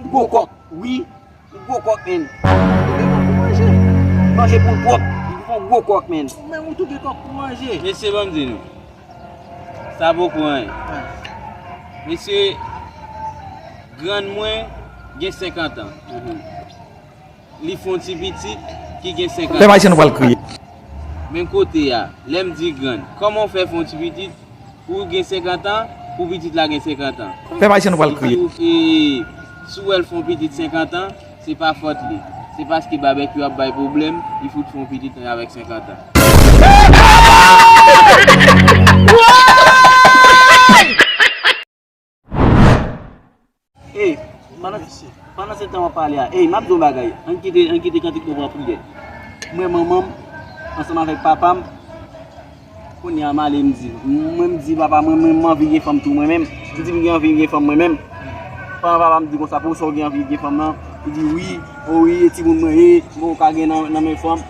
M gwo kòk wi M gwo kòk menn Manje poul pwòp M gwo kòk menn Mesye banm di nou Sa vo pou anyen Mesye Grann mwen gen 50 ans Li fon ti pitit ki gen 54 ans. Men kote a, lèm di grann. Koman w fè fon ti pitit pouw gen 50 ans, pou pitit la gen 50 ans. Pèp ayisyen nou pral kriye. Si w wè l fon pitit 50 ans, se pa fòt li. Se paske babekyou ap bay pwoblèm, li fout fon pitit nan avèk 50 ans. Ey, pandan se tan wap pale a, ey, map di yon bagay, an kite, an kite kantik nou pou an priyè. Mwen manman m, ansanm avèk papa m, kounye a m ale m di, mwen m di papa mwen mwen anvi gen fanm tou mwen menm, m di m gen anvi gen fanm mwen menm, pandan papa m di konsa pou ou sa ou gen anvi gen fanm nan, li di wi, o wi e timoun mwen e, mwen ou ka gen nan men fanm.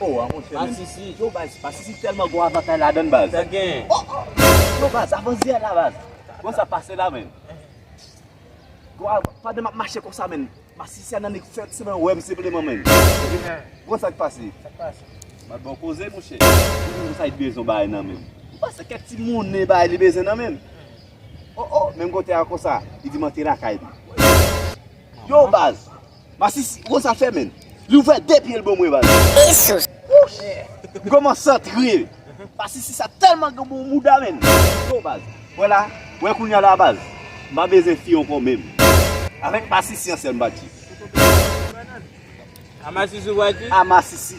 Oh a monchè men. Masisi. Yo baz masisi telman gon avantay ladann baz. Sa gen. Oh oh. Yo baz avan zye la baz. Bon sa pase la men. Gon av pandan map mache konsa men. Masisi a nan neg fèt se nan wèm sepleman men. Bon sak pase. Sak pase. Map bon koze monchè. Bon sa it bezon bay nan men. Ou pa se kek ti moune bay li bezwen nan men. Oh oh menm kote a konsa. Li di mante lakay li. Yo baz. Masisi konsa fè menn. Li ouvè de pyel bon mwen baz. Esoss. Wouch. M koman santre. Masisi sa telman gen bon mouda menn. Yo baz. Wè la. Wè kounya la baz. M pa bezwen fi anko menm. Avek masisi an sèl m bati. A masisi ou bati. A masisi.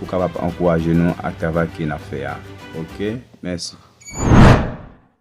Ou kapab ankouraje nou ak travay ke nap fè a ok mèsi.